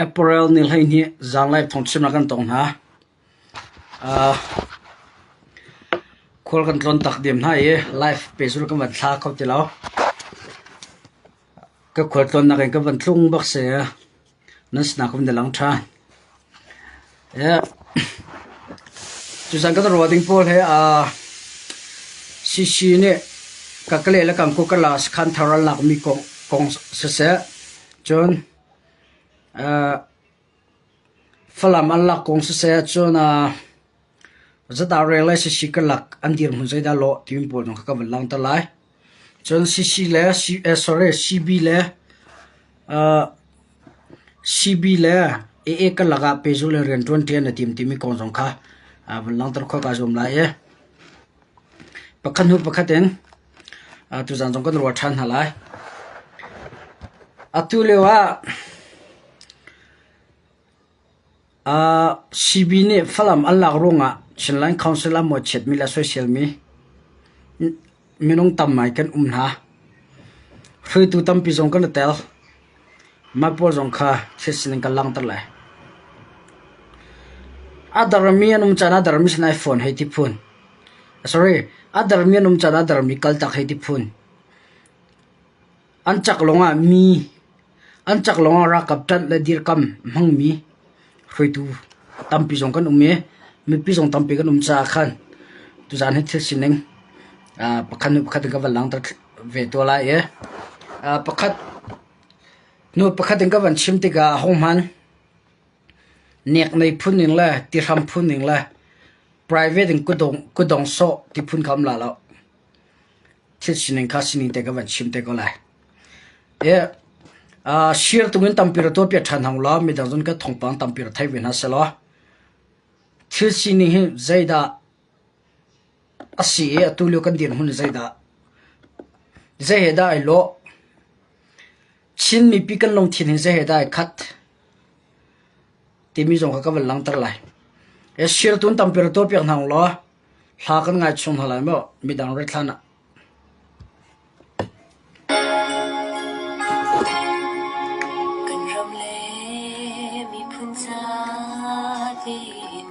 Apparel nih hleihnih zanglei phungchimnak kan tong hna. Aa khual kan tlawn tak diam hna i life pe cu kan van thla kho ti lo. Ka khual tlawnnak in ka van tlung bak si. Nan sinah ka vun i lang ṭhan. Tuchan kan ruah ding pawl hi Shishi nih kakale le kangkukala sakhan thar an lakmi kong siseh, cun Falam an lak kong siseh, cun zata rel le Shishi ka lak an dirhmun zeidah a lawh timi pawl zong kha kan vun langhter lai. Cun CC le CB le CB le AA karlak ah pehzulh le rian ṭuan ṭian a tim timi kong zong kha vun langhter khawhka zuam lai i pakhat hnu pakhat in tuzaan zong kan ruah ṭhan hna lai. Atu lio ah Sibi nih Falam an lak ruangah Chinland Council ah maw a chiatmi le a soisel mi minung tam ngai kan um hna. Hruaitu tampi zong kan i tel. Mah pawl zong kha thil sining kan langhter lai. A dermi an um caan ah dermi sin ai phone hei ti phun. Sorry, a dermi an um caan ah dermi kaltak hei ti phun. An caklong ah ralkap ṭanh le dirkamh a hmangmi hruaitu tampi zong kan um i mipi zong tampi kan um caah khan tuzaan hi thil sining pakhat hnu pakhat in kan van langhter ve tuah lai i hnu pakhat in kan van chim tikah ahohmanh neknei phun ning le tihram phun ning le private in kudong sawh ti phun kha um la lo. thil sining kha sining te ka van chim te ko lai. Share tungin tampi ra tuahpiak ṭhan hna ulaw midang zong kan thawngpang tampi ra thei ve hna sehlaw thil sining hi zeidah a si i atu lio kan dirhmun zeidah, zei he dah ai lawh, Chin mipi kan lungthin hi zei he dah ai khat timi zong kha ka van langhter lai. E sirtun tampirtu piak hna ulaw hla kan ngai chung hna lai maw midang ret hlan ah. Kan ram le miphun sa din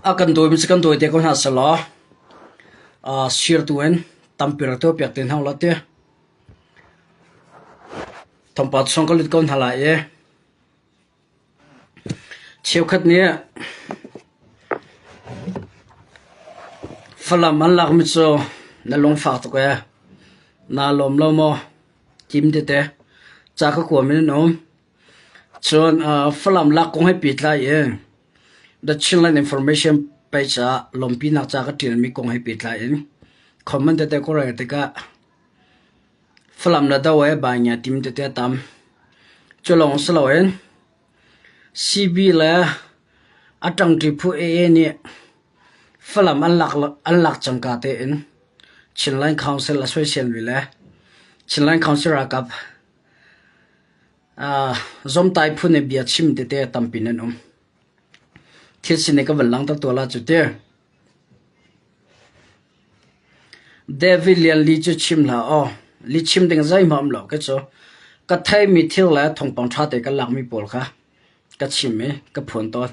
A kan dawi mi cu kan dawi te ko hna selaw sirtu in tampi rak tuah piak te hna ulah ti. Thawngpa chung ka lut ko hna lai i Cheukhat nih Falam an lak mi cu na lungfak tuk ee, naa lawm lo maw? Tim tete. Ca ka kuam in an um. Cun Falam lak kong he pehtlai in The Chinland Information page ah lawmpinak ca ka ṭial mi kong he pehtlai in comment tete ka rel tikah Falam le do he baingia tim tete a tam. Culawng si loin sibi le a ṭangṭi phu ee nih Falam an lak cangka tein Chinland Council a soisel ve le Chinland Council ralkap zomtai phu nih bia chim tete a tam pin an um. Thil sin i ka van lang tak tawl ah cu tih. David Lian Li cu chim hlah aw, lichim ding zeihmah a um lo kei cu. Ka theimi thir le thawngpang ṭha te kan lakmi pawl kha ka chim i ka phuan tawn.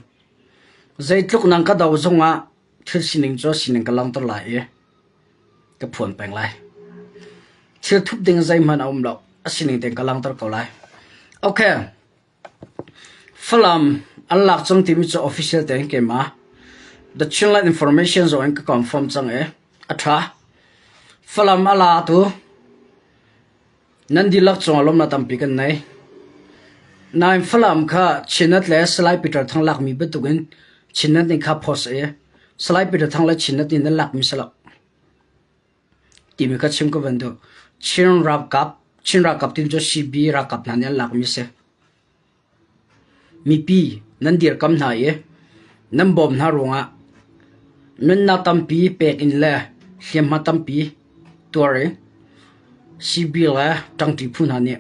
Zeitluk nang ka do zongah thil sining cu sining ka langhter lai i ka phuan peng lai. Thil thup ding zeihmanh a um lo, a sining tein ka langhter ko lai. Ok. Falam an lak cang timi cu official tein ka ima. The Chinland Information zong in ka confirm cang i a tha. Falam a latu nan dihlak cungah lawmnak tampi kan nei. Nain Falam kha Chinat le Salai Peter Thang lakmi bantuk in Chinat nih kha post i Salai Peter Thang le Chinat nih nan lakmi salak. timi kha chim ka van duh. Chin ralkap, Chin ralkap tin cu CB ralkap hna nih an lakmi a si. Mipi nan dirkamh hna i nan bawm hna ruangah nunnak tampi pek in le hliamhma tampi tuar i CB le ṭangṭi phu hna nih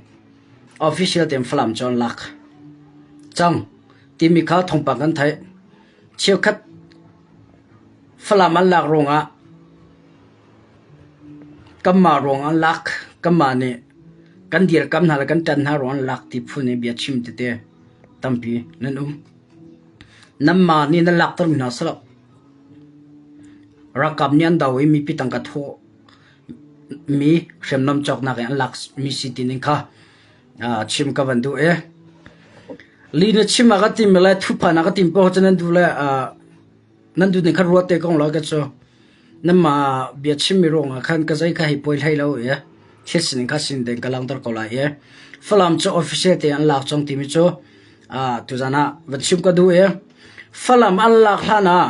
official tein Falam cu an lak cang timi kha thawngpang kan theih. Cheukhat Falam an lak ruangah kanmah ruang an lak. Kanmah nih kan dirkamh hna le kan ṭan hna ruang an lak ti phu nih bia chim tete tampi nan um. Nanmah nih nan laktermi hna si lo. Ralkap nih an do i mipi tangka thawh mi hriamnam cawknak i an lakmi si tining kha chim ka van duh i li na chim ah ka tim le thuphan ah ka tim poh cun nan duh le nan duh ning khan ruat te kong lo ka cu nanmah bia chimmi ruangah khan ka zei ka hei poi hlei lo i thil sining kha sin den ka langter ko lai i falam cu official te an lak cong timi cu tuzan ah van chim ka duh i falam an lak hlan ah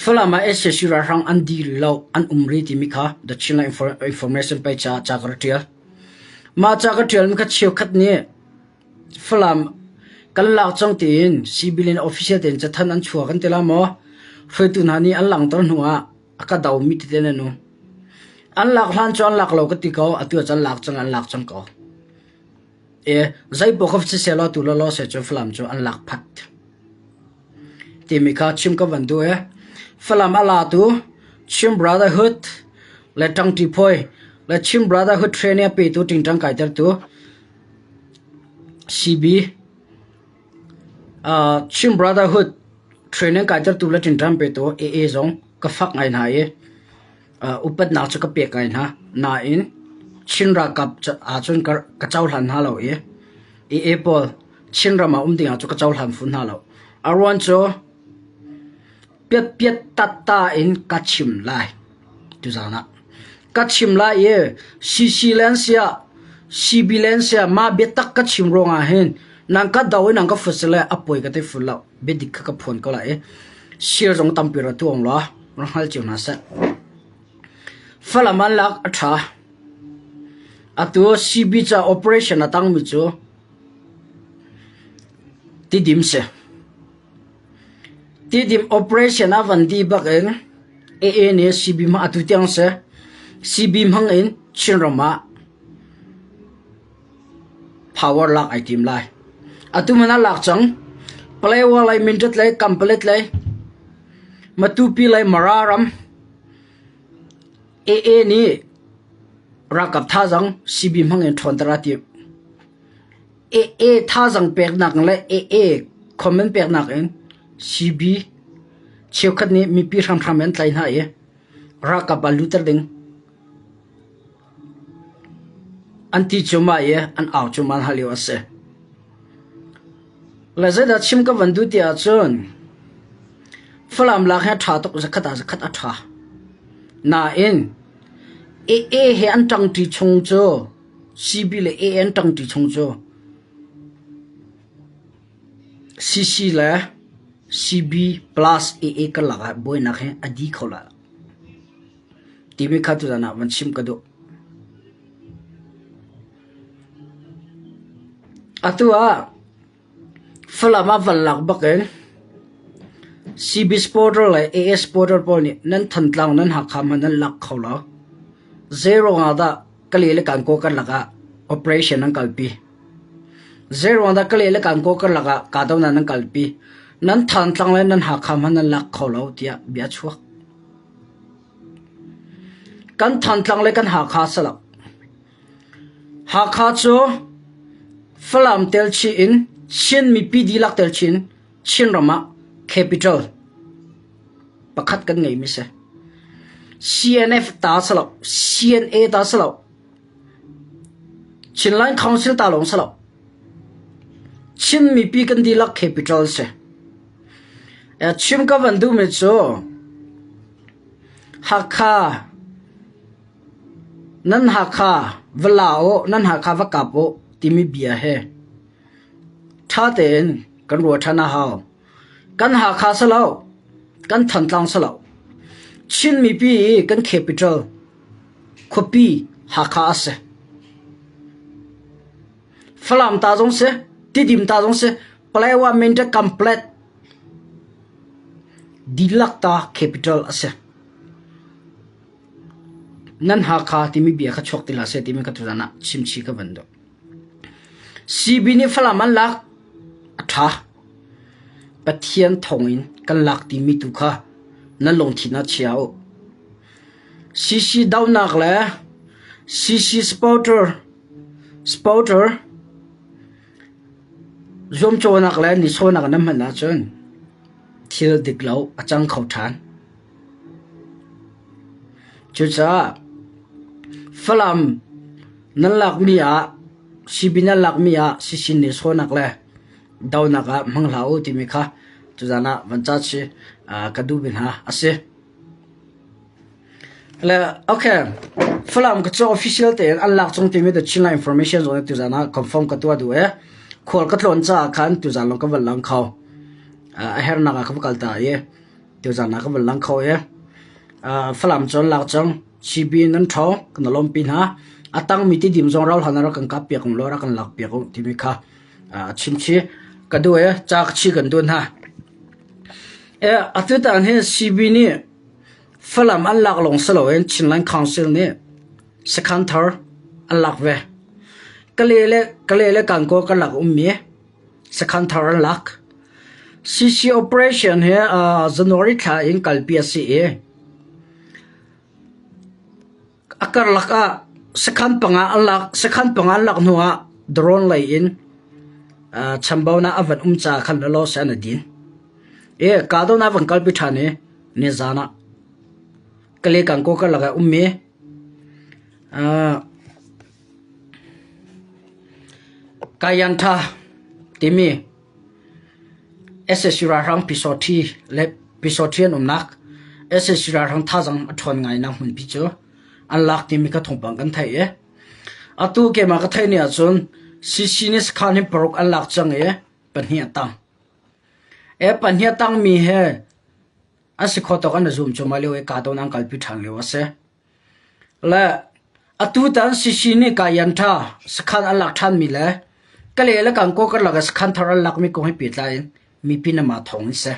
falam ah SAC ralhrang an dil lo an um ri timi kha the Chinland Information pei ca ca ka ra tial Mah ca ka ṭialmi kha cheukhat nih Falam kan lak cang tiin Civilian official tein cathanh an chuah kan ti lai maw? Hruaitu hna nih an langhter hnuah a ka domi tete nan um. An lak hlan cu an lak lo ka ti ko. Atu ah cun an lak cang, an lak cang ko. E, zeipoah ka va si seh law, tu lawlaw seh cun Falam cu an lak phat. timi kha chim ka van duh i Falam a latu Chin Brotherhood le ṭangṭi phawi le Chin Brotherhood Training a petu ṭingṭang kaitertu CB uh, Chin Brotherhood training kaitertu le ṭingṭang petu AA zong ka fak ngai hna i Upatnak cu ka pek ngai hna. Nain, Chin ralkap ahcun ka cohlan hna lo i IAE pawl Chinram ah um ding ahcun ka cohlan fun hna lo. A ruang cu piatpiat tatta in ka chim lai. Tuzaan ah ka chim lai i CC len siah CB len siah mah biatak ka chim ruangah hin nang ka do i nang ka fut si le a poi ka thei fut lo. Biadik kha ka phuan ko lai i sir zong tampi ra tuang rua. Falam ah lak a ṭha. Atu CB caah operation a tangmi cu tidim si. Tidim operation ah van dih bak in AA nih CB hmang atu tiang si. CB hmang in Chinram ah power lak ai tim lai. Atu hmanh ah lak cang. Palay Walaymintrat le Kampalet le Matupi le Mara ram AA nih ralkap thazang CB hmang in ṭhawnter a timh. AA thazang peknak le AA comment peknak in CB cheukhat nih mipi hramhram in an tlai hna i ralkap ah lutter ding. An ti cuahmah i an au cuahmah hna lio a si. Le zeidah chim ka van duh ti ahcun Falam lak hi a ṭha tuk, zakhat ah zakhat a ṭha. Nain AA he an ṭangṭi chung cu CB le AA an ṭangṭi chung cu CC le CB plus AA karlak ah buainak hi a di kho lai lo. Timi kha tutan ah van chim ka duh. Atu ah Falam ah van lak bak in CBS Portal le AS Portal pawl nih nan Thantlang, nan Hakha hmanh an lak kho lo. Zeiruang ah dah Kali le Kankaw karlak ah operation an kalpi? Zeiruang dah Kali le Kankaw karlak ah kahdohnak nan kalpi? Nan Thantlang le nan Hakha hmanh an lak kho lo tiah bia a chuak. Kan Thantlang le kan Hakha salak Hakha cu Falam telchih in Chin mipi dihlak telchih in Chinram ah capital pakhat kan ngeimi a si. CNF ta salak CNA ta salak Chinland Council ta lawng salak Chin mipi kan dihlak capital si. Chim ka van duhmi cu Hakha nan Hakha va la uh nan Hakha va kap uh timi bia hi ṭha tein kan ruah ṭhan a hau. Kan Hakha si lo, kan Thantlang si lo, Chin mipi i kan capital khuapi Hakha a si. Falam ta zong si, Tidim ta zong si, Palaewa Mindat Complex dihlak ta capital a si. Nan Hakha timi bia kha chuak ti la seh timi ka tutan ah chimchi ka van dawh. CB nih Falam an lak a ṭha. Pathian thawng in kan lak timi tu kha nan lungthin ah chia u. CC daunak le CC supporter supporter Zuamcawhnak le nichuahnak na hman ahcun thil dik lo a cang kho ṭhan. Cucaah Falam nan lakmi ah, sibi nan lakmi ah sishin nichuahnak le donak ah hmang hlah u timi kha tuzan ah van ca chih ka duhmi hna a si. Falam ka cu official tein an lak chung timi Chinland Information Zone tuzaan ah confirm ka tuah duh i khual ka tlawn caah khan tuzaan lawng ka van lang kho. A hernak ah ka va kal ta i tuzaan ah ka van lang kho i Falam cu an lak cang. Chibi in an ṭho, kan lawmpi hna. A tangmi tidim zong rau hlan ah rak kan kap piak ulaw rak kan lak piak u timi kha a chimchih ka duh i ca ka chi kan duh hna. Atu taan hi CB nih Falam an lak lawng si loin Chinland Council nih sakhan thar an lak ve. Kale le Kankaw karlak ummi sakhan thar an lak. CC operation hi January thla in kalpi a si i, A karlak ah sakhan panga an lak hnu ah drone lei in chambaunak a van um caah khan law seh an i din. Kahdohnak a van kalpi ṭhan i nizaan ah Kale Kangkaw karlak ah a ummi Kayantha timi sac ralhrang pyisawṭhi an umnak sac ralhrang thazang a ṭhawn ngainak hmunpi cu an lak timi kha thawngpang kan theih i atu keimah ka theih ni ahcun CC nih sakhan hi paruk an lak cang i pahnih a tang e pahnih a tangmi hi an si kho tawk an i zum cuahmah lio i kahdohnak an kalpi ṭhan lio a si Le atutan Sisi nih Kaayan ṭha sakhan an lak ṭhanmi le Kale le Kankaw karlak ah sakhan thar an lakmi kong he pehtlai in mipi namah thawng in si.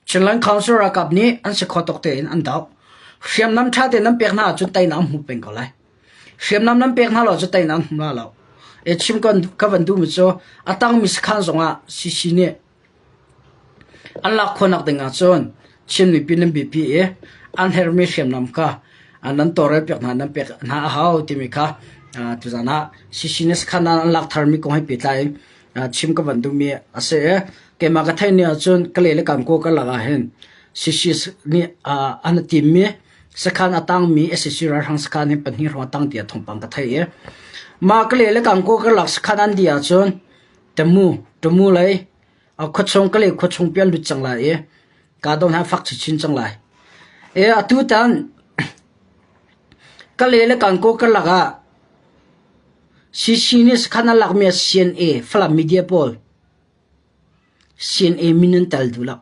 Chinland Council ralkap nih an si kho tuk tein an doh. Hriamnam ṭha tein nan pek hna ahcun teinak an hmu peng ko lai. Hriamnam nan pek hna lo cu teinak an hmu la lo. E chim kan ka van duhmi cu a tangmi sakhan zongah Sisi nih An lak khawhnak ding ahcun Chin mipi nan biapi i an herhmi hriamnam kha nan tawlrel piak hna, nan pek hna a hau timi kha tuzaan ah CCNews kha an lak tharmi kong he pehtlai in chim ka van duhmi a si i keimah ka theih ning ahcun Kalay le Kankaw karlak ahhin CCS nih an i timmi sakhan a tangmi sac ralhrang sakhan hi pahnih hrawng a tang tiah thawngpang ka theih i mah Kalay le Kankaw karlak sakhan an dih ahcun Ṭamu, ṭamu lei, khuachung ka leh khuachung pi an lut cang lai i kaa dong hna fak chinchin cang lai. E, atu tan ka le le Kankaw karlak ah CC nih sakhan an lakmi CNA Falam media pawl CNA min an tel duh lak.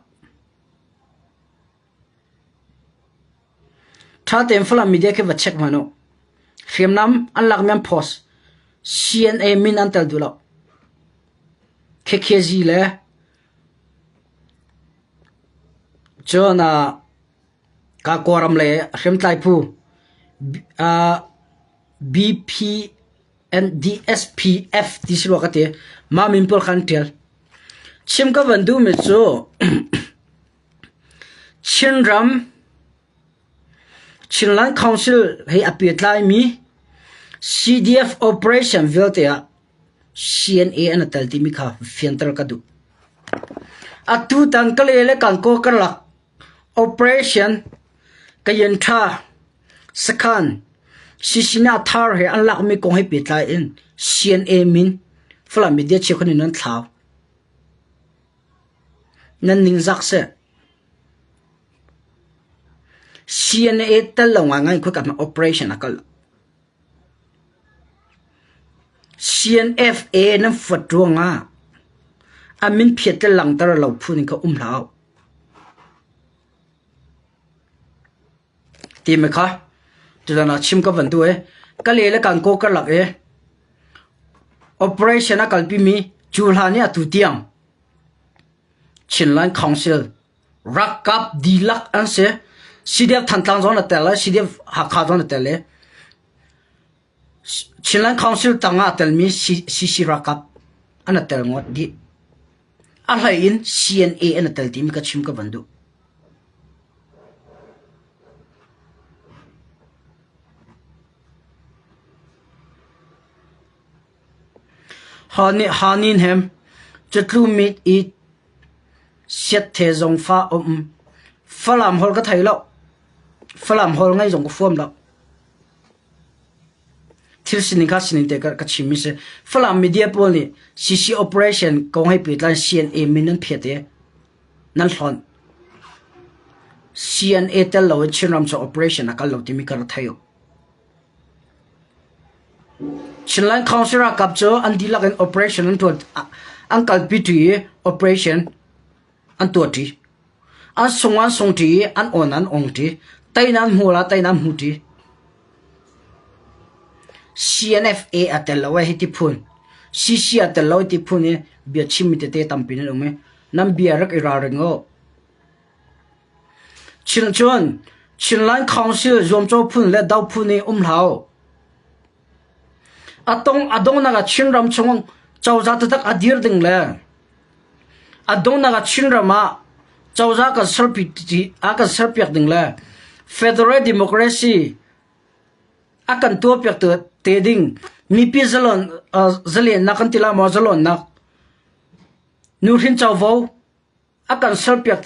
Ṭha tein Falam media khi va check hmanh u. Hriamnam an lakmi an post CNA min an tel duh lo. KKZ le cun ah Kakua ram lei hriamtlai phu ah BPNDSPF ti si rua ka ti. Mah min pawl kha an ṭial. Chim ka van duhmi cu Chinland Council he a pehtlaimi CDF operation vialte ah CNA an i tel timi kha fianter ka duh. Atu tan Kalay le Kankaw karlak operation Kayen Tha, Sakhan, Sisina Thar he an lakmi kong he pehtlai in CNA min Falam media cheukhat nih nan thlau. Nan ningzak seh! CNA tal lo ngaingai khuika hmah operation a kal. CNFA nan fuat ruangah a min phiat le langter lo phu ning kha um hlah uh. Timi kha tutan ah chim ka van duh i ka le le kan kaw karlak i operation a kalpimi cu hlan i atu tiang Chinland Council ralkap dihlak an si. CDF Thantlang zong an tel le CDF Hakha zong an tel i Chinland Council tang ah a telmi CC ralkap an rak tel ngawt dih. A hlei in CNA an rak tel timi ka chim ka van duh. Haninhem cutlu mit i siathe zong fa um. Falam hol ka thei lo. Falam hol ngai zong ka fuam lo. Thil sining kha sining tein ka chim mi a si. Falam media pawl nih CC operation kong he pehtlai CNA min an phet i nan hlonh. CNA tel lo in Chinram cu operation a kal lo timi ka ra thei uh. Chinland Council ralkap cu an dihlak in operation an tuan. An kalpi tu i operation an tuahṭi. An sung ah an sungṭi i an awn ah an ongṭi. Teinak an hmuh ah teinak an hmuṭi. CNFA a tel lo hiti phun. CC a tel lo hiti phun i bia chimmi tete tampi nan um i nan bia rak i ralring u. Chin cun Chinland Council zuamcaw phun le do phun i um hlau. A tong a donghnak ah Chinram chung cozah taktak a dir ding le a donghnak ah Chinram ah cozah kan serpi a kan serpiak ding le Federal Democracy a kan tuahpiak te ding mipi zalon uh, zalennak kan tila maw zalonnak nu hrin covo A kan serpiak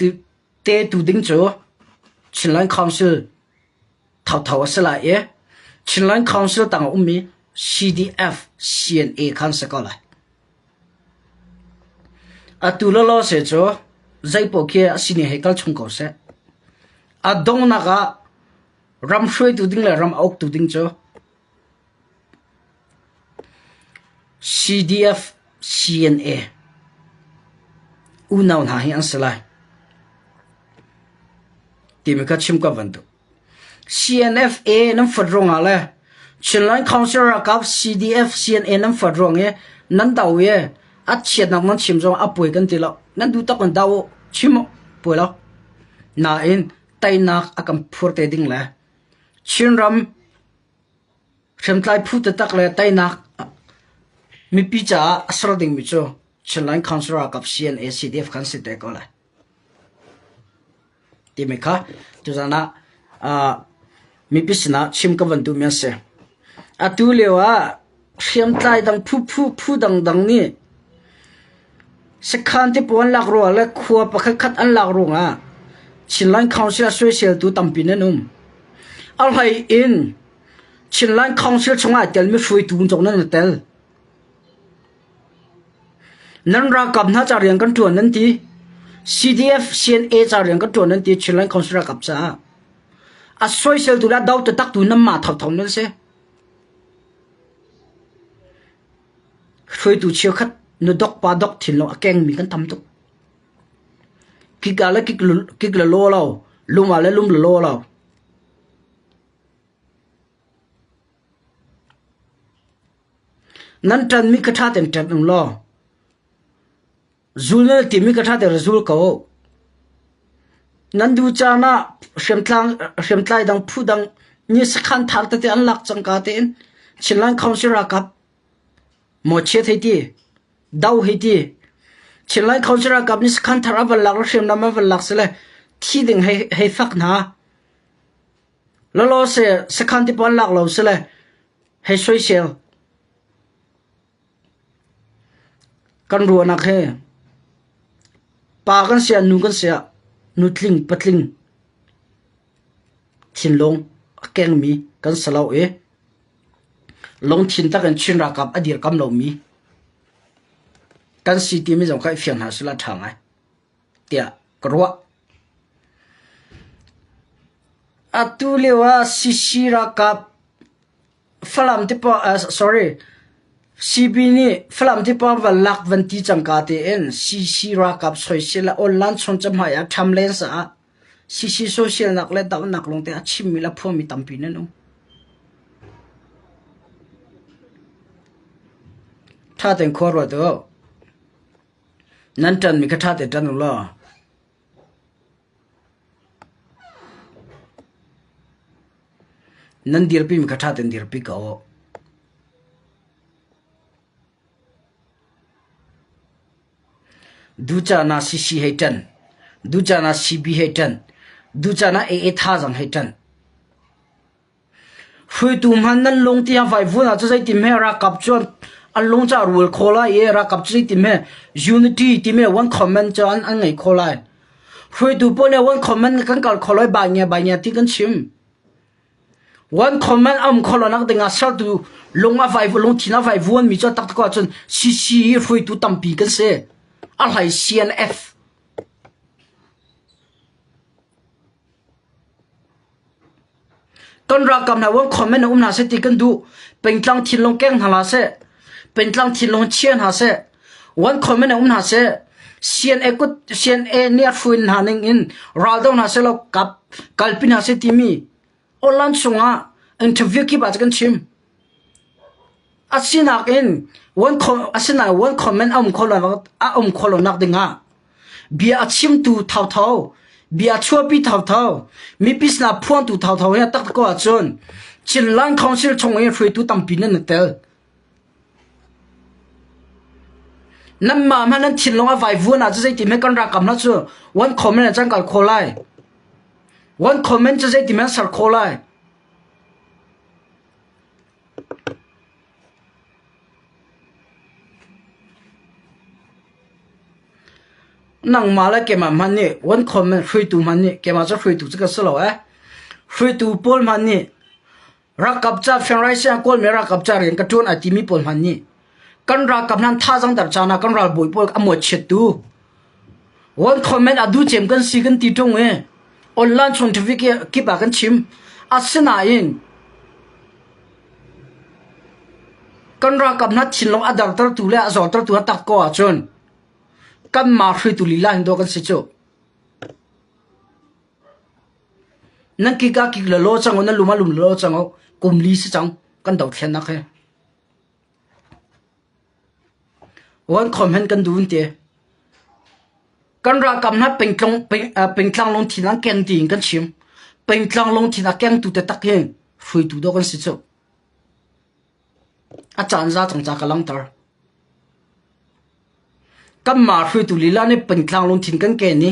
te tu ding cu Chinland Council thotho a si lai i Chinland Council tang a ummi CDF-CNA kha an si ko lai. Atu lawlaw se cu zeipaoh khi a sini hei kal chung ko seh. A donghnak ah ram hruaitu ding le ram a uktu ding cu CDF-CNA unau hna hi an si lai timi kha chim kan van duh. CNFA nan fat ruangah le Chinland Council ralkap CDF-CNA nan fat ruang i nan do i a chiatnak nan chim zong a puai kan ti lo. Nan duh tak in do u, chim u, puai lo. Nain teinak a kan phur te ding le Chinram hriamtlai phu taktak le teinak mipi caah a ser dingmi cu Chin Land Council ralkap CNA/CDF kan si te ko lai timi kha tuzan ah mipi sinah chim ka van duhmi an si. Atu lio ah Hriamtlai dang phuphu phu dangdang nih sekhan tipuan lak ruang le khua pakhatkhat an lak ruangah Chinland Council ah soiseltu tampi nan um. A hlei in Chinland Council chungah ai telmi hruaitu zong nan i tel. Nan ralkap hna ca rian kan ṭuan nan ti. CDF CNA ca rian kan ṭuan nan ti Chinland Council ralkap caah. A soiseltu le dau tatak tu nan mah thotthom nan si. Hruaitu cheukhat na dok pa dok thin lawng a kengmi kan tam tuk. Kik ah le kik la law lo, lum ah le lum la law lo. Nan ṭanmi ka ṭha tein ṭan ung law, Zul nan timi ka ṭhater zul ko. Nan duh caan ah hriamtlai dang phu dang nih sakhan thar tete an lak cangka tein Chinland Council ralkap maw chiat hei ti, doh hei ti. Chinland Council ralkap nih sakhan thar a van lak le hriamnam a van lak si le thi ding hei fak hna. Lalaw se sakhan tipawn lak lo si le hei soisel. Kan ruahnak hi pa kan siah nu kan siah nutling patling thinlung a kengmi kan si lo i lungthin tak in Chin ralkap a dirkamh lomi kan si timi zong kha i fiang hna sehla a ṭha ngai. tiah ka ruah. Atu lio ah CC ralkap Falam te pawng ah sorry CB nih Falam te pawng van lak van ti cangka tein CC ralkap soisel ah Onlan chung cahmai ah ṭham len sa ah CC soisel nak le dohnak lawng te a chimmi le a phuami tampi nan um. Ṭha tein khua ruat u. Nan ṭanmi kha ṭha tein ṭan u law. Nan dirpimi kha ṭha tein dirpi ko. Ducana CC hei ṭan. Ducana CB hei ṭan. Ducana AA thazaang hei ṭan. Hruaitu hmanh nan lung tiang vaivun ah cu zeiti hme ralkap cu an lung cu a rul kho lai i ralkap cu zeiti hme unity timi one comment cu an ngei kho lai. Hruaitu pawl nih one comment kan kal kho lai baingia baingia ti kan chim. One comment a um kho lonak dingah sertu lung a vaivun lungthin a vaivun mi cu a taktuk ahcun CC hi hruaitu tampi kan si. A hlai CNF. Kan ralkap hna uang khawm in a um hna seh ti kan duh. Pengtlang thinlung keng hna hlah seh, pengtlang thinlung chia hna seh, uan khawm in a um hna seh, CNA kut CNA nih a hruin hna ning in ral do hna seh law kap kalpi hna seh timi online chung ah interview kip ah cun kan chim. A sinak in one comment a um kho lonak dingah bia a chimtu thotho, bia chuahpi thotho, mipi sinah phuangtu thotho hi a tak ko ahcun Chinland Council chungin hruaitu tampi nan i tel. Nan ma hmanh nan thinlung a vaivuan ahcun zeiti men kan rakam hna cu one comment a cang kal kho lai. One comment cu zeiti men ser kho lai. Nangmah le keimah hmanh nih Wankham in hruaitu hmanh nih keimah cu hruaitu cu ka si lo ee. Hruaitu pawl hmanh nih ralkap ca, Fiang Rai Siang Kawlmi ralkap ca rian ka ṭuan ai timi pawl hmanh nih kan ralkap nan tha zang ter chana kan ralbawi pawl a muat chiat tu world government adu chem kan si kan ti tung e online chung traffic kip a kan chim asinain kan ralkap na thin long adar ter tu le azor ter tu atak ko a chun kan ma hri tu lila hin do kan si chu nan ki ka ki la lo chango nan luma lum lo chango kum li si chang kan do thlen nak he Kan ralkap hna pengtlang lungthin ah keng tiin kan chim. Pengtlang lungthin a kengtu taktak hi hruaitu dawk an si cu. A caan za cangca ka langter. Kanmah hruaitu lila nih Pantlang lungthin kan ken i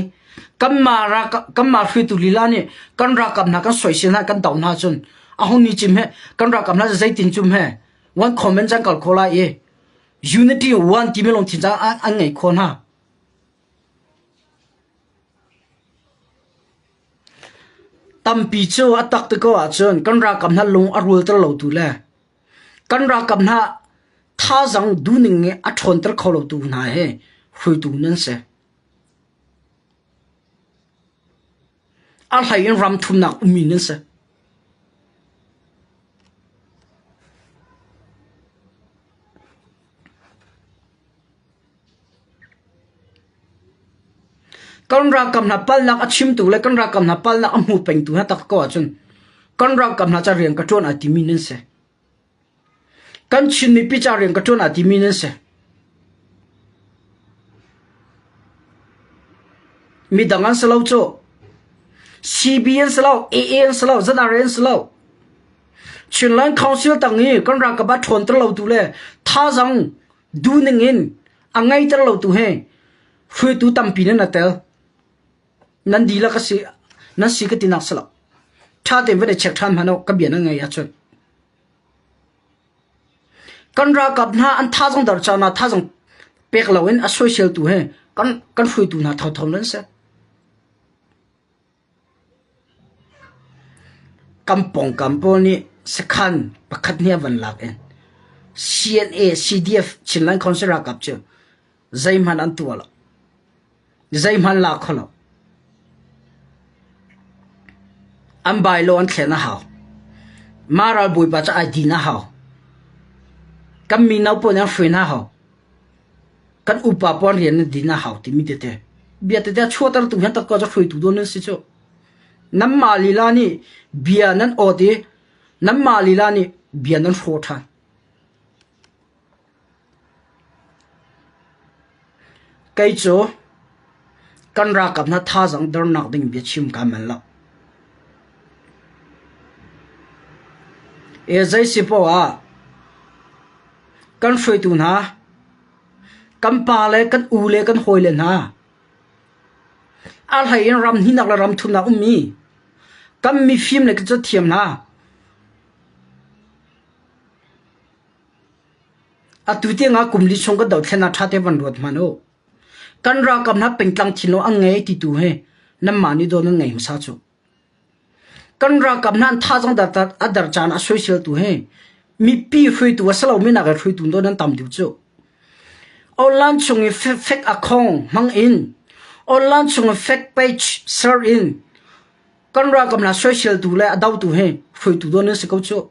kanmah hruaitu lila nih kan ralkap hna kan soisel hna kan doh hna cun ahun ni cim heh kan ralkap hna cu zeitin cum heh one comment can kal kho lai i unity one timi lungthin caah an ngei kho hna. Tampi cu a tak ti ko ahcun kan ralkap hna lung a rul ter lo tu le Kan ralkap hna thazaang duhning nih a ṭhawnter kho lotu hna hi hruitu nan si. A hlei in ram thumnak ummi nan si. Kan ralkap hna palnak a chimtu le kan ralkap hna palnak a hmu pengtu hna tak ko ahcun kan ralkap hna ca rian ka ṭuan ai timi nan si. Kan Chin mipi ca rian ka ṭuan ai timi nan si. Midang an si lo cu. CB an si lo, AA an si lo, ZRA an si lo. Chinland Council tang i kan ralkap a ṭhawnter lotu le thazang Du ning in a ngeiter lo tu he hruaitu tampi nan a tel. Nan dihlak a si nan si ka tinak salak. Tha tein van i check than hmano ka bia nan ngei ahcun. Kan rakap hna an tha zong dar cha na tha zong pek lo in a soiseltu he kan kan hruaitu hna thotho nan se. Kan pawngkam pawl nih sakhan pakhat hnih a van lak i CNA-CDF Chinland Council ralkap cu zeihmanh an tuah lo. Zeihmanh la kho lo. An bylaw an thlen a hau. Mah ralbawipa cu ai din a hau. Kan mino pawl nih an hruai hna hau. kan upa puan rian nan din a hau timi tete bia tete a chuahtertu hin takka cu hruaitu dun an si cu nanmah lila nih bia nan awt i nanmah lila nih bia nan hraw ṭhan kei cu kan ralkap hna thazang dernak ding bia chim ka mel lo e zei si poah ah Kan hruaitu hna, kan pa le kan u le kan hawile hna, a hlei in ram hnihnak le ram thumnak um mi kan mifim le cu thiam hna. Atu tiangah kum li chung kan dothlennak ṭha te van ruat hmanh u. Kan ralkap hna pengtlang thinlung an ngei ti tu hi nanmah nih dawn nan ngei hmasa cu. Kan ralkap nan tha zong a der caan ah soisel tu hi mipi hruaitu a si lomi nakin hruaitu nawn an tam deuh cu. Online chung i fake account hmang in online chung i fake page share in kan ralkap hna soisel tu le a dotu hi hruaitu nawn an si ko cu.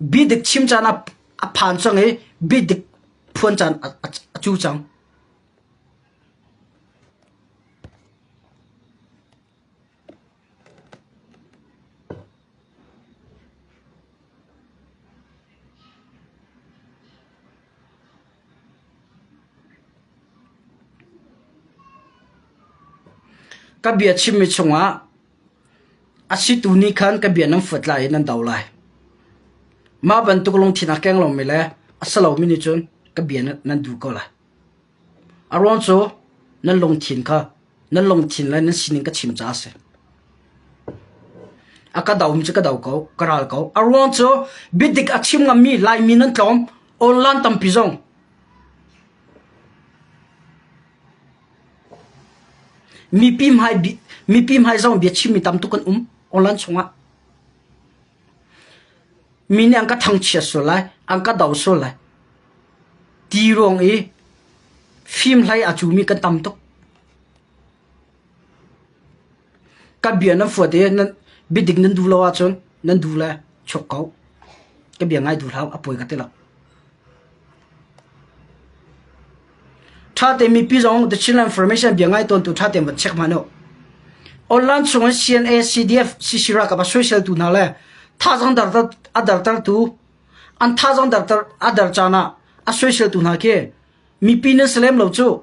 Biadik chim caan ah a phan cang i biadik phuan caan a cu cang. Ka bia chimmi chungah A situ nih khan ka bia nan fuat lai i nan do lai. Mah bantuk lungthinak keng lomi le a si lomi nih cun ka bia nan duh ko lai. A ruang cu nan lungthin kha nan lungthin le nan sining ka chim caah a si. A ka domi cu ka do ko, ka ral ko. A ruang cu biadik a chim ngammi Laimi nan tlawm, online tampi zong. Mipi hmai zong biachimmi tamtuk kan um online chungah. Mi nih an ka thangchiat sual lai, an ka do sual lai. Ti ruang i fim hlei a cumi kan tam tuk. Kan bia nan fuat i biadik nan duh lo ahcun nan duh le chuak ko. Ka bia ngai duh hlah u, a poi ka ti lo. Ṭha tein mipi zong The Chinland Information bia ngai tawntu ṭha tein va check hman u. Online chung in CNA, CDF, CCRA ka va soiseltu hna le thazang dar a dartertu an thazang dar a dar caan ah a soiseltu hna khi mipi nan si lem lo cu.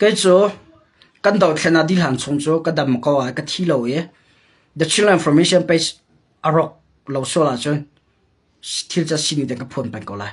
Kei cu kan dothlen ah dihhlan chung cu ka dam ko ai ka thi lo i The Children Information Page a rawk lo sual ahcun thil cu a sining te ka phuan peng ko lai.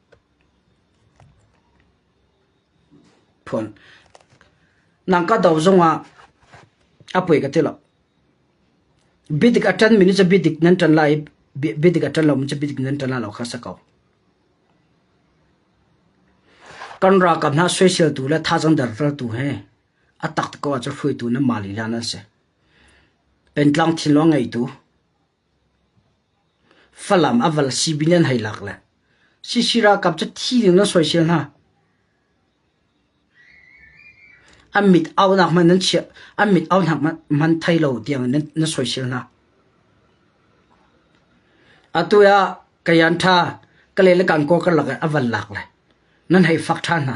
Nang ka do zongah a poi ka ti lo. Biadik a ṭan mi nih cun biadik nan ṭan lai i biadik a ṭan lomi cu biadik nan ṭan lai lo kha a si ko. Kan ralkap hna soiseltu le thazaang derdortu he a tak tuk ko ahcun hruaitu nan mah lila nan si. Pengtlang thinlung a ngeitu, Falam a val Sibin an hei lak le Sisi ralkap cu thi dingin an soisel hna. An mit aunak hmanh nan chiah, an mit aunak hmanh thei lo tiangin na soisel hna. Atu ah Kayan ṭha Kale le Kankaw karlak ah a van lak le nan hei fak ṭhan hna.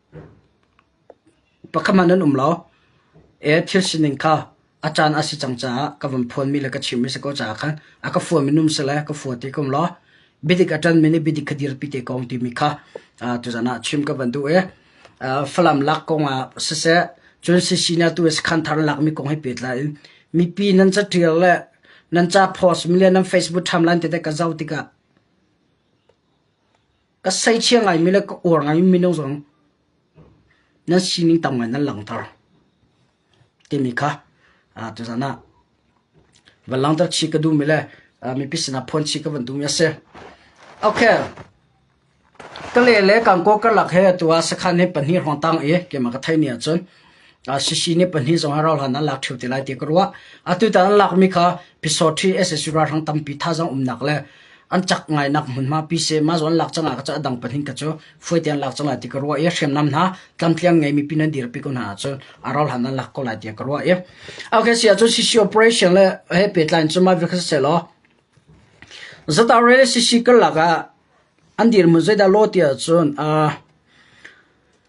Pakhat hmanh an um lo. E thil sining kha a caan a si cang caah ka van phuanmi le ka chimmi a si ko caah khan a ka fua minung si le ka fua ti ka um lo. Biadik a ṭanmi nih biadik kha dirpi te ko timi kha aa tuzan ah chim ka van duh i aa Falam lak kongah siseh cun sisihni atu i sakhan thar lakmi kong he pehtlai in mipi nan caṭial le nan capost milian nan Facebook timeline tete ka zoh tikah ka seichia ngaimi le ka uar ngaimi mino zong nan sining tam ngai nan langhter timi kha tuzan ah van langhter chi ka duhmi le mipi sinah phuan chi ka van duhmi a si okay ka le le kangko karlak he tu ah sakhan he pahnih hrawng tang i keimah ka thei ni ahcun Sisi nih pahnih zong a rauhhlan ah lak ṭheo te lai tiah ka ruah. Atutan an lakmi kha Physottry sac ralhrang tampi thazang umnak le an cak ngainak hmunhma Pyisema zawn lak cangah ka cu a dang pahnih ka cu fuete an lak cangah ti ka ruah i hriamnam hna tlamtliang ngeimi pin an dirpi ko hna ahcun a rauhhlan an lak ko lai tiah ka ruah i okay si ahcun sisi operation le he pehtlai cun mah vial kha siseh law zata rel sisi karlak ah an dirhmun zeidah law tiah cun uh,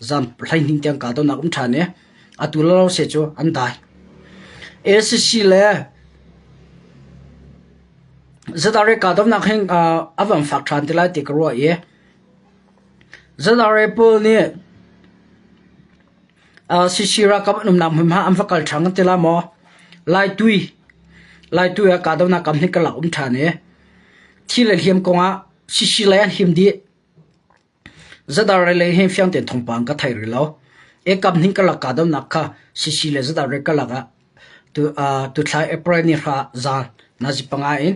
zam hleihning tiang kahdonak um ṭhan i atu lawlawse cu an dai. ACC le Zadare kahdonak hin a van fak ṭhan te lai ti ka ruah i Zadare pawl nih CC ralkap an umnak hmunhma an va kal ṭhan kan ti la maw Lai tui Lai tui ah kahdonak kam hi ka lak um ṭhan i thi le hliam kongah CC lei an him dih Zadarrei lei hin fiang tein thawngpang ka thei rih lo. Ekap hnih ka lak kahdohnak kha sisi le zadarrei ka lak ah tu- aa tuthlai April ni hra zaan nazi panga in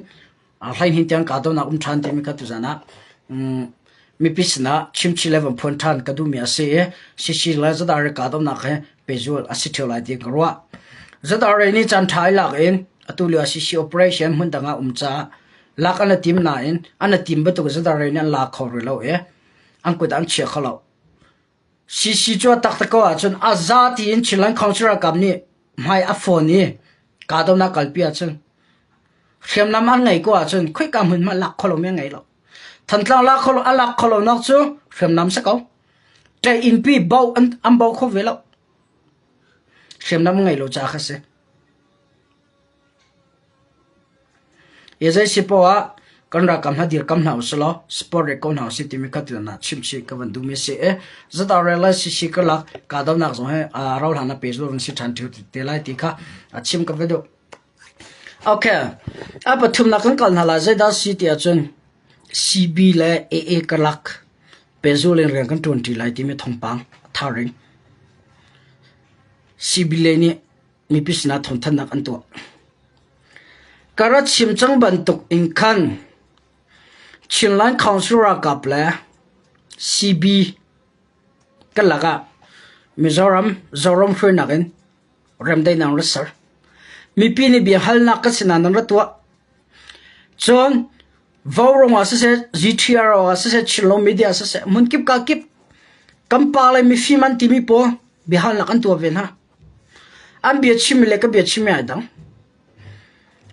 aa hleihnih tiang kahdohnak um ṭhan timi kha tuzaan ah um mipi sinah chimchih le van phuan ṭhan ka duhmi a si i sisi le zadarrei kahdohnak hi pehzul a si ṭheo lai ti ka ruah. Zadarrei nih caan ṭha i lak in atu lio ah sisi operation hmun dang ah um caah lak an i tim nain an i tim bantuk zadar in an la kho rih lo i an kut ah an chia kho lo. CC cu a taktak ko ahcun a za tiin Chin Land Council ralkap nih hmai a fawn i kahdohnak kalpi ahcun hriamnam an ngei ko ahcun khoika hmun hmanh lak kho lo mi an ngei lo. Thantlang lak kho lo a lak kho lo nak cu hriamnam si ko. Te innpi bo an, an bo kho ve lo. Hriamnam ngei lo ca kha si. Zeicapo ah kan ralkap hna dirkamh hna usilaw support rih ko hna usih timi kha tiah chimchih ka van duhmi a si i zatah rel cc karlak kahdohnak zong hi rohlan ah pehzulh an si ṭhan ṭheo te lai ti kha chim ka va duh. Okay, a pathumnak kan kal hna lai zeidah si ti ahcun CB le AA karlak pehzulh in rian kan ṭuanṭi lai timi thawngpang a thar in CB le nih mipi sinah thawnthannak an tuah. Ka ra chim cang bantuk in khan Chinland Council ralkap le CB ka lakah Mizoram Zoram hruainak in remdai nang ra ser. Mipi nih bia halnak ka sinah nan ra tuah. Cun Vaurong ah siseh, GTR ah siseh, Chillo media siseh, mun kip ka kip. Kampa le mifim an timi po bihalnak an tua ve na. An biachim le ka biachim hi a dang.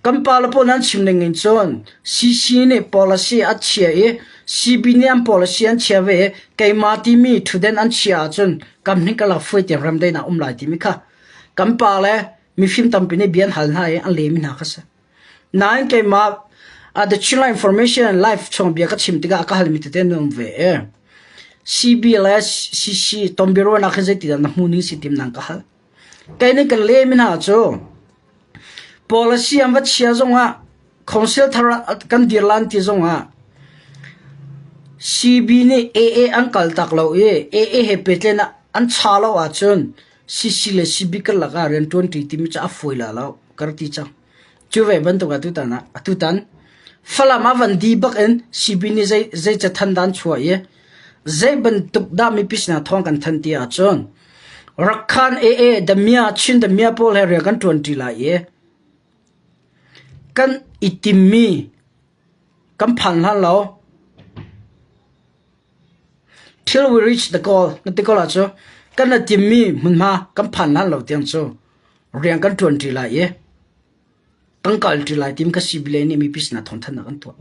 Kan pale pawl nan chim ning in cun CC nih policy a chia i CB nih an policy an chia ve i keimah timi thutden an chia ahcun kam hnih ka lak fuai tiang remdain ah um lai timi kha kan pale mifim tampi nih bia an hal hna i an lehmi hna kha a si. Nain keimah ah The Chinland Information and Life chongbia ka chim tikah a ka halmi tete na um ve. CBLS, CC, Tonbiaruahnak hi zeitidah na hmuning si tim nang ka hal. Kei nih ka lehmi hna cu policy an va chia zongah council thar kan dir lan ti zongah CB nih AA an kal tak lo i AA he petlen an cha lo ahcun Sisi le sibik karlak ah rianṭuanṭi timi cu a fawi la lo, ka rak ti cang. Cu ve bantuk ah tutan ah, atutan Falam ah van di bak in sipi nih zei, zei cathanh dah an chuah i zei bantuk dah mipi sinah thawng kan thanh ti ahcun Rakhan AA Damia, Chin Damia pawl he rian kan ṭuanṭi lai i kan i timmi kan phan hlan lo. Thil we reach na kawl na ti ko lah cu kan le timmi hmunhma kan phan hlan lo tiang cu rian kan ṭuanṭi lai i tangka ilṭi lai tim ka si bile nih mipi sinah thawnthannak an tuah.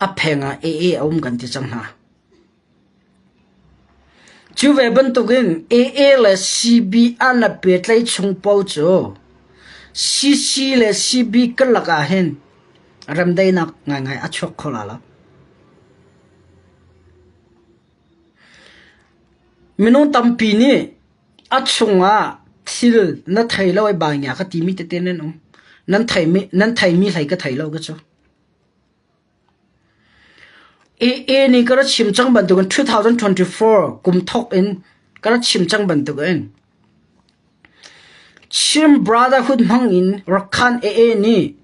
A pheng ah AA a um kan ti cang hna. Cu ve bantukin AA le CB an rak pehtlaih chung paoh cu CC le CB karlak ahhin remdaihnak ngaingai a chuak kho la lo. Minung tampi nih a chungah thil na thei lo ai bai hngia ka timi tete nan um. Nan theimi hlei ka thei lo ka cu. AA nih ka ra chim cang bantukin 2024 kum thawk in ka ra chim cang bantukin Chin Brotherhood hmang in Rakhan AA nih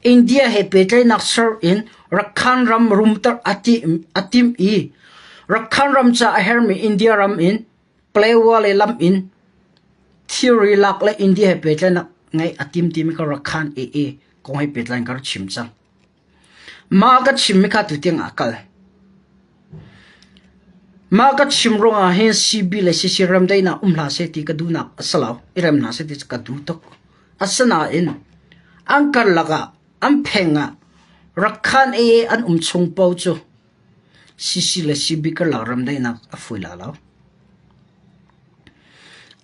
India he pehtlaihnak ser in Rakhan ram rumter a tim i Rakhan ram ca a hermi India ram in Palewa le lam in theory lak le India he pehtlaihnak ngeih a tim timi ka Rakhan AA kong he pehtlain ka ra chim cang. Mah ka chimmi kha tutiang ah a kal. Mah ka chim ruangah hin CB le CC remdaihnak um hlah seh ti ka duhnak a si lo. I rem hna seh ti ka duh tuk. Asinain an karlak ah an pheng ah Rakhan AA an um chung paoh cu CC le CB karlak remdaihnak a fui la lo.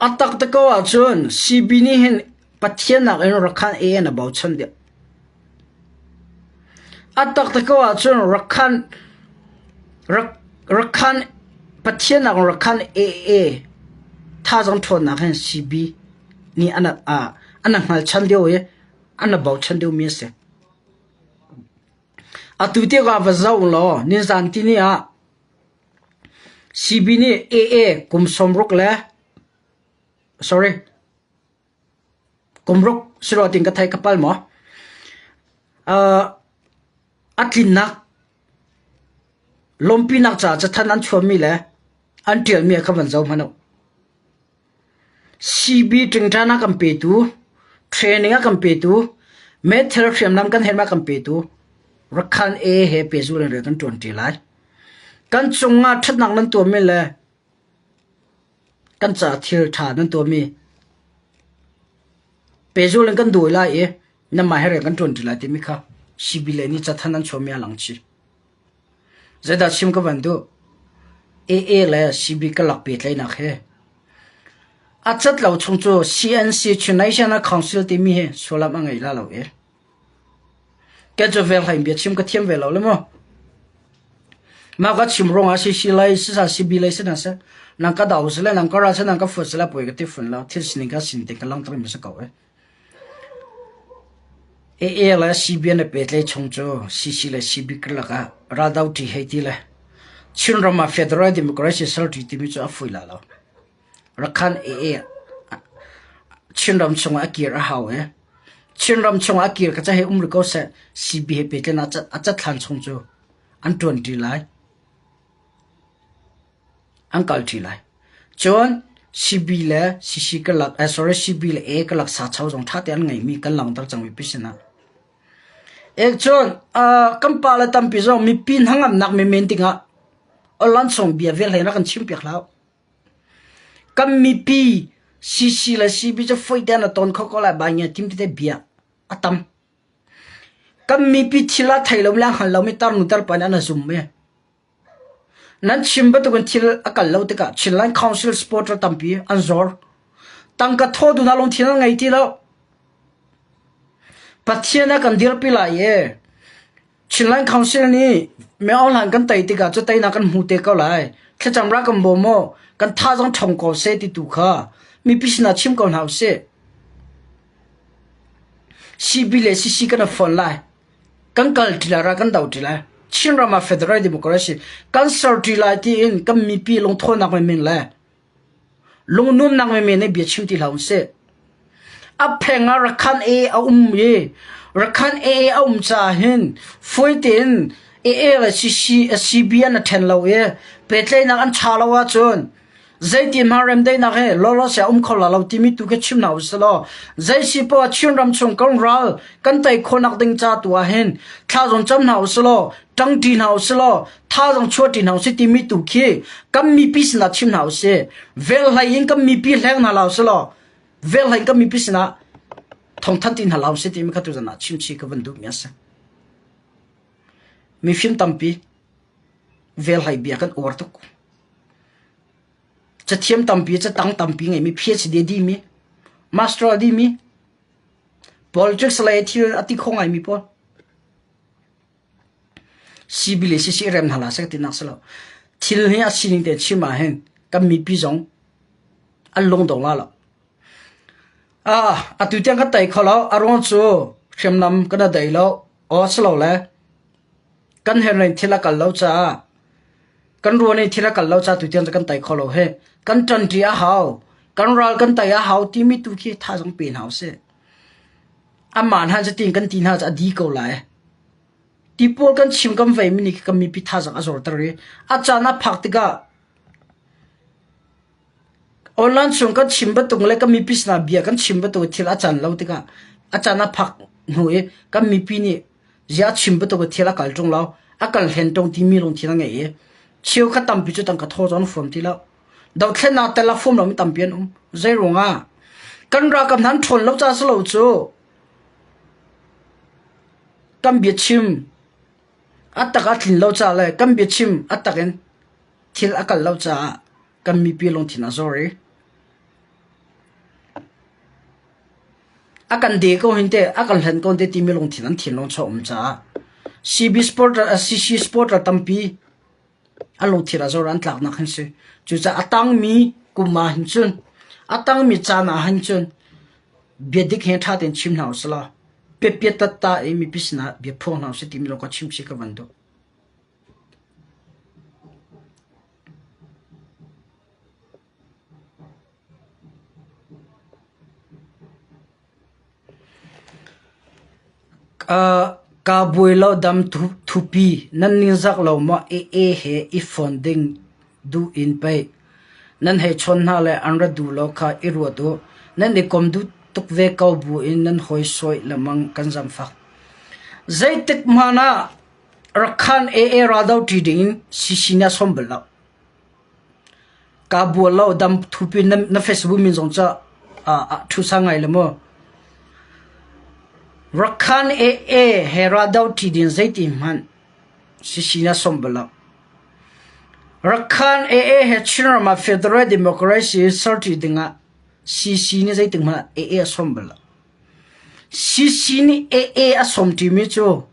A tak te ko ahcun CB nih hin Pathian nakin Rakhan A in a bochan deuh. A taktak ko ahcun Rakhan, Rak- Rakhan, Pathian nakin Rakhan AA thazang ṭhawnnak hin CB nih ana ah ana hngalchan deuh i ana bochan deuhmi a si. Atu tiang ah va zoh law nizan tini ah CB nih AA kum sawmruk le sorry Kum ruk si rawh tiin ka theih ka pal maw? Aa, a tlinnak, lawmpinak caah cathan an chuanmi le an ṭialmi ah khan van zoh hmanh u. CB ṭingṭan a kan petu, training a kan petu, meithal hriamnam kan herh ma kan petu, rakhan A he pehzul in rian kan ṭuanṭi lai. Kan cungah ṭhatnak nan tuahmi le Kan caah thil ṭha nan tuahmi pehzul in kan dawi lai i nanmah he rian kan ṭuan ṭi lai timi kha sibile nih cathanh an chuahmi ah a lang chih. Zeidah chim ka van duh? AA le CB karlak pehtlaihnak hi a cat lo chung cu CNC Chin Nation Council timi hi sullam a ngei la lo ee. Kan cu veng hleihbia chim ka thiam ve lo le maw? Mah ka chim ruangah si si lai, si sa si bi lai si hna seh, nang ka dau si le nang ka ra si le nang ka fuat si le poi ka ti fun lo. Thil sining ka sin te ka langhter mi si ko eh. AA le CBN le petlei chung cu CC le CB karlak ah raldo ṭi hei ti le Chin ram ah Federal Democracy ser ṭi timi cu a fui la lo. Rakhan Chinram chungah a kir a hau i Chinram chungah a kir ka ca he um rih ko seh CB he pehtlaih in a cat hlan chung cu an ṭuanṭi lai. An kalṭi lai. Cun CB le CC ka lak sorry CB le A ka lak sacho zong ṭha tein an ngeimi kan langhter cangmi pi sinah. Ek cun kan pa le tampi zong mipi hnangamnak menmen dingah Olansong bia vel hlei in rak kan chim piak hlah. Kan mipi CC le CB cu foih tein a tawn kho ko lai. Baingia tim tete bia a tam. Kan mipi thil ah thei lomi le hngal lomi tarnu tarpa nih an a zum i nan chim bantukin thil a kal lo tikah Chinland Council supporter tampi an zor. Tangka thawtu hna lungthin an ngei ti lo. Pathian a kan dirpi lai i Chinland Council nih miohlang kan tei tikah cu teinak kan hmu te ko lai. Thlacam ra kan bawm u, kan tha zong ṭhawng ko seh ti tu kha mipi sinah chim ko hna u sih. CP le CC kan rak fonh lai. Kan kal ṭi lai ra kan doh ṭi lai. Chinram ah Federal Democracy kan ser ṭi lai tiin kan mipi lungthawnnak menmen le Lungnuamnak menmen nih bia chim ti hlah u sih. A pheng ah rakhanh ee a um i rakhanh ee a um caah hin fawi tein ee le si bia an ṭhen lo i pehtlaihnak an ṭha lo ahcun zeitinhmah remdaihnak hi lawlawseh a um kho la lo timi tu khi chim hna u sih law zei si poah Chinram chung kan ral kan tei khawhnak ding ca tu ah hin thla zawn cam hna u sih law ṭangṭi hna u sih law thaizong chuah ṭin hau si timi tu khi kan mipi sinah chim hna u si velhlei in kan mipi hleng hna lau si law velhlei in kan mipi sinah thongthan tin hna lau si timi kha tuzan ah chimchi ka van duh mi a si mi fim tampi velhlei bia kan uar tuk ca thiam tampi ca tang tampi ngai mi phd di mi master di mi politics le thil ati kho ngai mi paul Sibil hi siseh rem hna hlah seh tinak a si lo. Thil hi a sining te chim ahhin kan mipi zong an lungdong la lo. Ah, atu tiang kan tei kho lo. A ruang cu hriamnam kan i dei lo. Aw si lo le kan henrain thil a kal lo caah kan ruan i thil a kal lo caah tu tiang cu kan tei kho lo he. Kan ṭanṭi a hau. Kan ral kan tei a hau timi tu khi tha zong pe hna usih. Amah hna cu tiin kan ti hna caah a di ko lai. Ti pawl kan chim kan veimi nih kan mipi thazaang a zorter i a caan ah phak tikah online chung kan chim bantuk le kan mipi sinah bia kan chim bantuk i thil a caan lo tikah a caan a phak hnu i kan mipi nih ziah chim bantuk i thil a kal ṭung lo, a kal hlen ṭung timi lungthin a ngei i cheukhat tampi cu tangka thaw cu an fuam ti lo. Dohthlennak tel ah fum lomi tampi an um. Zeiruangah? Kan ral kan hnan ṭhawn lo caah si lo cu kan biachim a tak a tlin lo caah le kan biachim a tak in thil a kal lo caah kan mipi lungthin a zor i a kan de ko hin te a kan hlen ko hin te timi lungthin an thinlung chaw um caah CB sport ral CC sport ral tampi A lungthin ah zor an tlaknak an si. Cucaah a tangmi kum ah hin cun, a tangmi caan ah hin cun biadik he ṭha tein chim hna u sih law, piapia tatta i mipi sinah bia phuang hna u sih timi lawng kha chim si ka van duh. Kaa buai lo dam thupi nan ningzak lo maw ee he i fon ding duh in pei. Nan hei chawn hna le an ra duh lo kha i ruat u. Nan i kom duh tuk ve ko bu in nan hawi sawih lemang kan zamfak. Zeitik hmanh ah Rakhan AA raldoh ṭi ding in sisina sawm bal lo. Kaa bual lo. Damthup in na Facebook min zong cu ṭhusa ngai le maw? Rakhan AA he raldo ṭhi ding zeitin hmanh sisi na sawmh bal lo. Rakhan AA he Chinram ah Federal Democracy serṭi dingah CC nih zeitin hmanh AA a sawm bal lo. CC nih AA a sawm ṭimi cu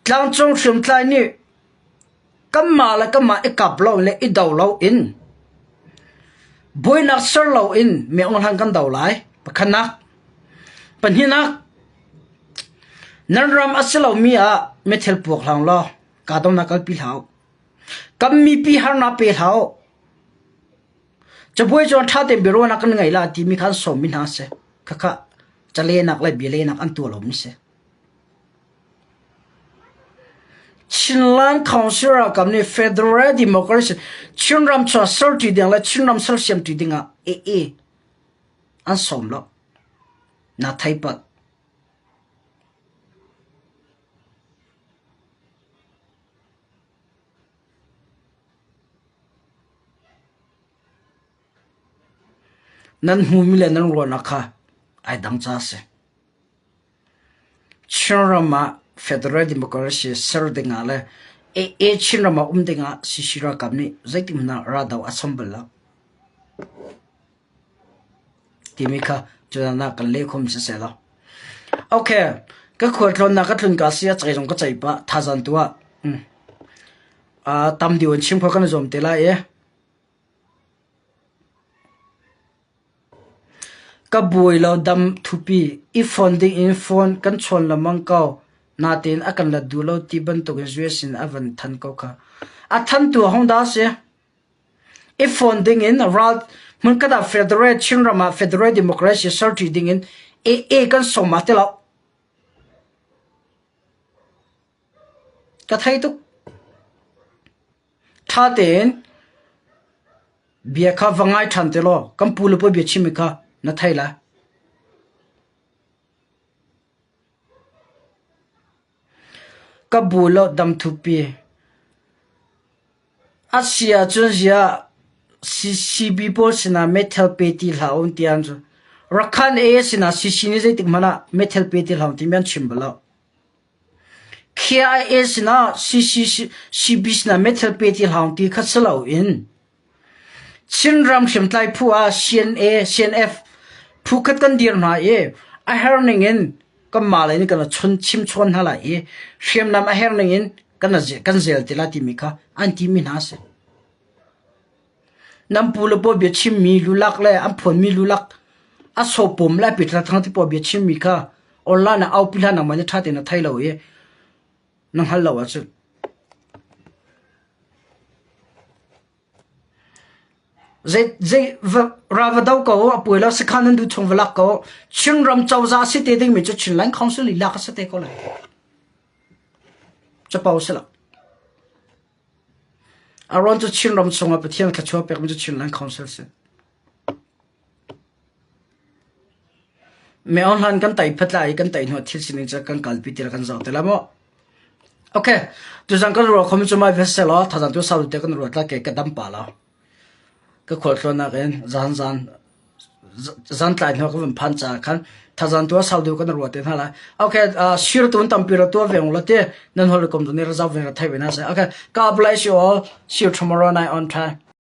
tlangcung hriamtlai nih Kanmah le kanmah i kap lo le i do loin buainak ser loin mehawhlang kan do lai. Pakhatnak, pahnihnak, nan ram a si lomi ah mithil puak hlang law kahdohnak kalpi hlah u. Kan mipi harnak pe hlah u. Cabuai cuan ṭha tein biaruahnak kan ngeih la timi khan sawmmi hna a si. Khakha calenak le bialenak an tuah lomi a si. Chinland Council ralkap nih Federal Democracy Chinram chuahser ṭi ding le Chinram sersiam ṭi ding ah aa an sawm lo. Na thei pat. Nan hmumi le nan ruahnak kha ai dang ca a si. Chin ram ah Federal Democracy ser dingah le AA Chin ram ah um dingah CC ralkap nih zeitihmanh ah raldoh a cham bal lo timi kha cucaah kan leh khawm siseh law. Okay, ka khualtlawn na ka tlun ka si ah cai zong ka cai pah thazan tu ah um, uh, tam deuh in chim kho kan i zuam te lai i Ka buai lo dam thupi i fon dingin fon kan chawn lengmang ko natein a kan let duh lo ti bantukin zui a sin ah a van than ko khah. A than tu a hong dah a si. I fon dingin ral hmunkhat ah Federal Chinram ah Federal Democracy serṭi dingin AA kan sawm ah ti lo. Ka thei tuk. Ṭha tein bia kha va ngai ṭhan ti law kan pu le puai biachimmi kha na thei lai. Ka bu le damthupi a si ahcun ziah CCB pawl sinah meithal pe ti hlah u ti an cu. Rakhan AA sinah CC nih zeitik hmanh ah meithal pe ti hlah u timi an chim bal lo. KIA sinah CCCBC methil pe ti hlang ti kha si loin Chinram hriamtlai phu ah CNF phu khat kan dir hna i a her ningin kanmah lei nih kan chimchuan hna lai i hriamnam a her ningin kan zel ti lai timi kha an timi hna a si. Nan pulapua bia chimmi lulak le an phuanmi lulak a sawpawm lai piṭhathang tipuaa bia chimmi kha online ah aupi hlah nangmah nih ṭha tein na thei lo i na hngal lo ahcun. Zei, zei va, ra va do ko, a puai lo sakhan nan du chung va lak ko, Chinram cozah si te ding mi cu Chinland Council i lak a si te ko lai. Capo si lo. Aaron cu Chinram chungah Pathian thluachuah pekmi cu Chinland Council a si. Me ohlan kan tai phatla i kan tai hnu thil sining cu kan kalpi tir kan zoh te la maw. Okay, tu zang kan ruwa khom chu mai vessel o thazan tu sau te kan ruwa tla ke ka dam pa la. Ka khualtlawn nakin zantlai hnu ah kan vun phan caah khan thazan tu ah sau deuh kan i ruat te hna lai. Ok, sir tu an tampi ra tua ve u law ti nan holh rikom tu nih ra zoh ve ra theih ve hna seh. Ok, God bless you all. See you tomorrow night on Thai.